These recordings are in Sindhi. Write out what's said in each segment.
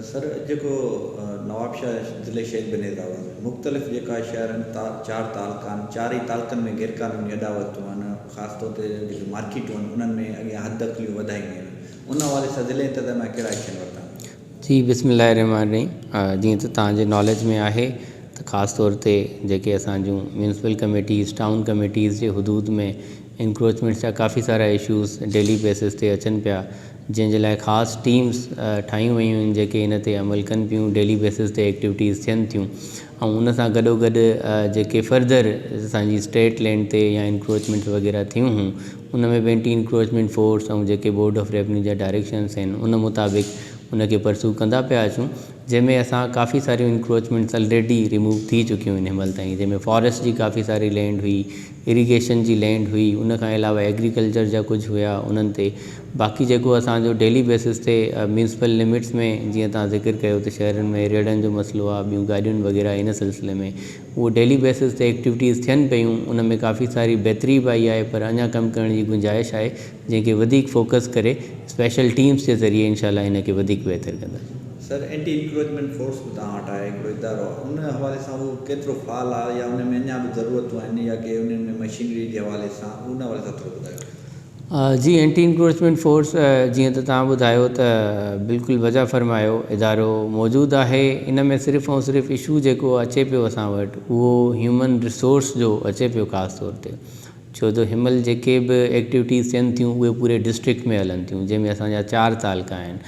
سر اڄ جيڪو نوابشاهه ضلعي شيخ بنير راوا ۾ مختلف جيڪا شهرن چار تعلقان چار ئي تعلقن ۾ غير قانوني اڏا وتون آهن خاص طور تي جيڪي مارڪيٽون آهن انهن ۾ اڳيان حد اقليون وڌائي ويون آهن ان حوالي سان ضلعي انتظاميا ڪهڙا ايڪشن ورتا جي بسم الله الرحمٰن الرحيم جيئن ته توهان جي ناليج ۾ آهي ته خاص طور تي جيڪي اسان جون ميونسپل ڪميٽيز ٽائون ڪميٽيز جي حدود ۾ انڪروچمينٽس جا ڪافي سارا اشوز ڊيلي بيسز تي اچن پيا جنهن جي لاء خاص ٽيمز ٺاهيون ويون آهن جيڪي ان تي عمل ڪن پيون ڊيلي بيسز تي ايڪٽيوٽيز ٿين ٿيون ۽ ان سان گڏوگڏ جيڪي فرڌر اسان جي اسٽيٽ لينڊ تي يا انڪروچمينٽس وغيره ٿيون هون ان ۾ به اينٽي انڪروچمينٽ فورس ۽ جيڪي بورڊ آف ريونيو جا ڊائريڪشنس آهن ان مطابق ان کي پرسو ڪندا پيا اچون جنهن ۾ اسان ڪافي ساريون انڪروچمينٽس الريڊي ريموو ٿي چڪيون آهن هن مهل تائين جنهن ۾ فاريسٽ جي ڪافي ساري لينڊ هئي اريگيشن جي لينڊ هئي ان کان علاوه ايگريڪلچر جا ڪجهه هيا انهن تي باقي جيڪو اسان جو ڊيلي بيسس تي ميونسپل لمٽس ۾ جيئن توهان ذڪر ڪيو ته شهرن ۾ ريڙهن جو مسئلو آهي ٻيون گاڏيون وغيره ان سلسلي ۾ اهو ڊيلي بيسس تي ايڪٽيوٽيز ٿين پيون ان ۾ ڪافي ساري بهتري به آئي آهي پر اڃا ڪم ڪرڻ جي گنجائش آهي جنهن کي وڌيڪ فوڪس ڪري اسپيشل ٽيمز جي ذريعي انشاء الله ان کي وڌيڪ بهتر ڪنداسين. سر اينٽي انڪروچمينٽ فورس به توهان وٽ آهي هڪڙو ادارو ان حوالي سان اهو ڪيترو فعال آهي يا ان ۾ اڃا به ضرورتون آهن يا ڪي انهن ۾ مشينري جي حوالي سان ان حوالي سان ٿورو ٻڌايو. جي اينٽي انڪروچمينٽ فورس جيئن ته توهان ٻڌايو ته بلڪل وضع فرمايو ادارو موجود آهي ان ۾ صرف ۽ صرف اشو جيڪو اچي پيو اسان وٽ اهو هيومن ريسورس جو اچي پيو خاص طور تي ڇو ته هنمهل جيڪي به ايڪٽيوٽيز ٿين ٿيون اهي پوري ڊسٽرڪٽ ۾ هلن ٿيون جنهن ۾ اسان جا چار تعلقا آهن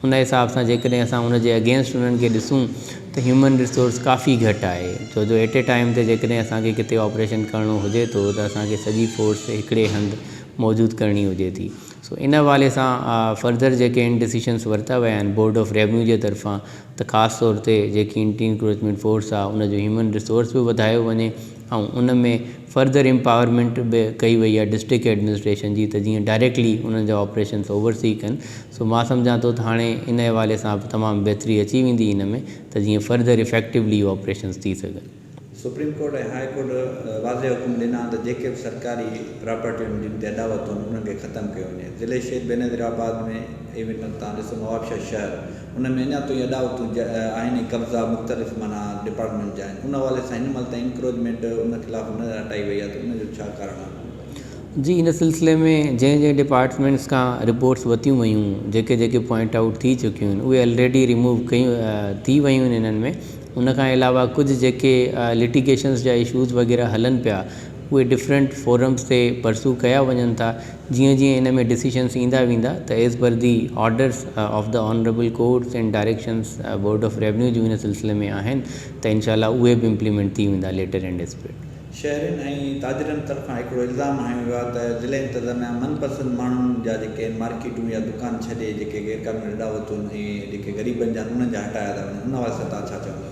ان حساب سان جيڪڏهن اسان ان جي اگينسٽ انهن کي ڏسون ته هيومن ريسورس ڪافي گهٽ آهي ڇو جو ايٽ اي ٽائيم تي جيڪڏهن اسان کي ڪٿي آپريشن ڪرڻو هجي ٿو ته اسان کي سڄي فورس هڪڙي هنڌ موجود ڪرڻي هجي ٿي سو ان حوالي سان فردر جيڪي ان ڊسيشنس ورتا ويا آهن بورڊ آف ريونيو جي طرفان ته خاص طور تي جيڪي انٽي انڪروچمينٽ فورس آهي ان جو هيومن ريسورس به وڌايو وڃي ۽ ان ۾ فرڌر امپاورمينٽ به ڪئي وئي آهي ڊسٽرڪٽ ايڊمنسٽريشن جي ته جيئن ڊائريڪٽلي انهن جا آپريشنس اوور سي ڪن سو مان سمجهان ٿو ته هاڻي ان حوالي سان به تمام بهتري اچي ويندي ان ۾ ته جيئن فرڌر افيڪٽولي آپريشنس ٿي سگهن. سپريم ڪورٽ ۽ هاء ڪورٽ واضح حڪم ڏنا آهن ته جيڪي به سرڪاري پراپرٽيون جن تي اڏاوت هئن انهن کي ختم ڪيو وڃي ضلعي شيخ بينظيرآباد ۾ اي مٽن تان ڏسو نوابشاهه شهر ان ۾ اڃا توئين اڏاوتون جا آهن ۽ قبضا مختلف معنيٰ ڊپارٽمينٽ جا آهن ان حوالي سان هن مهل تائين انڪروچمينٽ ان خلاف نه هٽائي وئي آهي ته ان جو ڇا ڪارڻ آهي؟ جي ان سلسلي ۾ جنهن جنهن ڊپارٽمينٽس کان رپورٽس وتيون ويون جيڪي جيڪي پوائنٽ آئوٽ ٿي چڪيون آهن اهي الريڊي ريموو ڪيون ٿي ويون آهن انهن ۾ ان کان علاوه ڪجهه جيڪي لٽيگيشنس جا اشوز وغيره هلن پيا اهي ڊفرنٽ فورمز تي پرسو ڪيا وڃن ٿا جيئن جيئن ان ۾ ڊسيشنز ايندا ويندا ته as per the orders of the honourable courts and directions board of revenue جون ان سلسلي ۾ آهن ته انشاء الله اهي به امپليمينٽ ٿي ويندا ليٽر اينڊ اسپرٽ. شهرين ۽ تاجرن طرفان هڪڙو الزام هنيو ويو آهي ته ضلعي انتظاميا من پسند ماڻهن جا جيڪي آهن مارڪيٽون يا دڪان ڇڏي جيڪي غيرقانوني اڏاوتون ۽ جيڪي غريبن جا آهن انهن جا هٽايا ٿا وڃن ان حوالي سان توهان ڇا چوندو.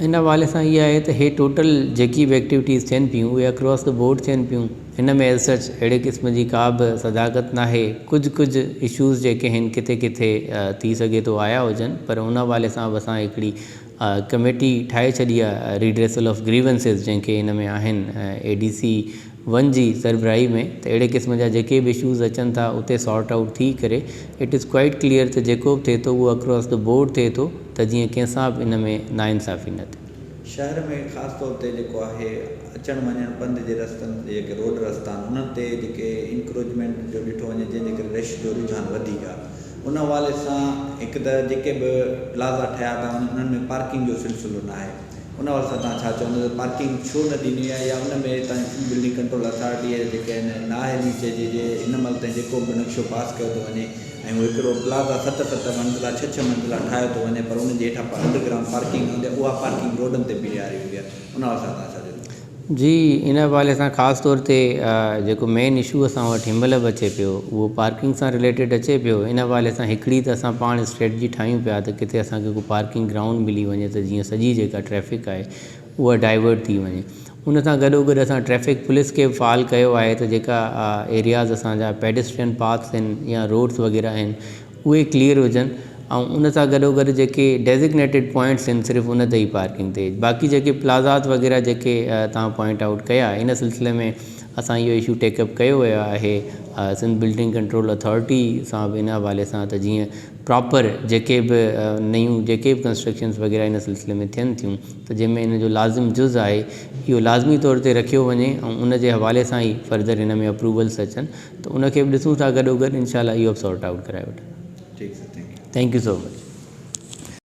ان حوالي سان اهي آهي ته هي ٽوٽل جيڪي به ايڪٽيوٽيز ٿين پيون اهي اڪراس دي بورڊ ٿين پيون ان ۾ ايز سچ اهڙي قسم جي ڪا به صداقت ناهي ڪجهه ڪجهه اشوز جيڪي هن ڪٿي ڪٿي ٿي سگهي ٿو آيا هجن پر ان حوالي سان به اسان هڪڙي ڪميٽي ٺاهي ڇڏي آهي ريڊريسل آف گريونسز جنهن کي ان ۾ آهن اي ڊي سي ون جي سربراهي ۾ ته اهڙي قسم جا جيڪي به اشوز اچن ٿا اتي سارٽ آئوٽ ٿي ڪري اٽ از ڪوائيٽ ڪليئر ته جيڪو به ٿئي ٿو اهو اڪراس دي بورڊ ٿئي ٿو ته جيئن ڪنهن سان به ان ۾ ناانصافي نه ٿئي. شهر ۾ خاص طور تي جيڪو آهي اچڻ وڃڻ پنڌ جي رستن تي جيڪي روڊ رستا آهن انهن تي جيڪي انڪروچمينٽ جو ڏٺو وڃي جنهن جي ڪري رش جو رجحان وڌيڪ آهي ان حوالي سان هڪ ته جيڪي به پلازا ٺهيا ٿا وڃن انهن ۾ پارڪنگ جو سلسلو ناهي. ان واسطي توهان ڇا چوندو ته پارڪنگ ڇو نه ڏني آهي يا ان ۾ هتان جي بلڊنگ ڪنٽرول اٿارٽيء جا جيڪي آهن ناهي ڏني چئجي جي هن مهل تائين جيڪو به نقشو پاس ڪيو ٿو وڃي ۽ هو هڪڙو پلازا ست ست منزلا ڇهه ڇهه منزلا ٺاهيو ٿو وڃي پر ان جي هيٺان انڊرگرائونڊ پارڪنگ هوندي اها پارڪنگ روڊن تي بيهاري ويندي آهي ان واسطي توهان ڇا چوندو. جي ان حوالي سان خاص طور تي جيڪو مين اشو اسان وٽ هن مهل به اچي پيو اهو پارڪنگ سان رليٽيڊ اچي پيو ان حوالي سان هڪڙي ته اسان پاڻ اسٽريٽجي ٺاهيون پيا ته ڪٿي اسان کي ڪو پارڪنگ گرائونڊ ملي وڃي ته جيئن سڄي جيڪا ٽريفڪ آهي اها ڊائيورٽ ٿي وڃي ان سان گڏو گڏ اسان ٽريفڪ پوليس کي به فعال ڪيو آهي ته جيڪا ايرياز اسان جا پيڊسٽرين پاٿس آهن يا روڊس وغيره آهن اهي ڪليئر هجن ۽ ان سان گڏوگڏ جيڪي ڊيزگنيٽيڊ پوائنٽس آهن صرف ان تي ئي پارڪنگ ٿئي باقي جيڪي پلازاز وغيره جيڪي توهان پوائنٽ آئوٽ ڪيا ان سلسلي ۾ اسان اهو اشو ٽيڪ اپ ڪيو ويو آهي سنڌ بلڊنگ ڪنٽرول اٿارٽي سان به ان حوالي سان ته جيئن پراپر جيڪي به نيون جيڪي به ڪنسٽرڪشنس وغيره ان سلسلي ۾ ٿين ٿيون ته جنهن ۾ ان جو لازم جز آهي اهو لازمي طور تي رکيو وڃي ۽ ان جي حوالي سان ئي فردر ان ۾ اپروولس اچن ته ان کي به ڏسون ٿا گڏوگڏ انشاء الله اهو به سارٽ آئوٽ ڪرائي وٺندا ٺيڪ sir thank you thank you so much.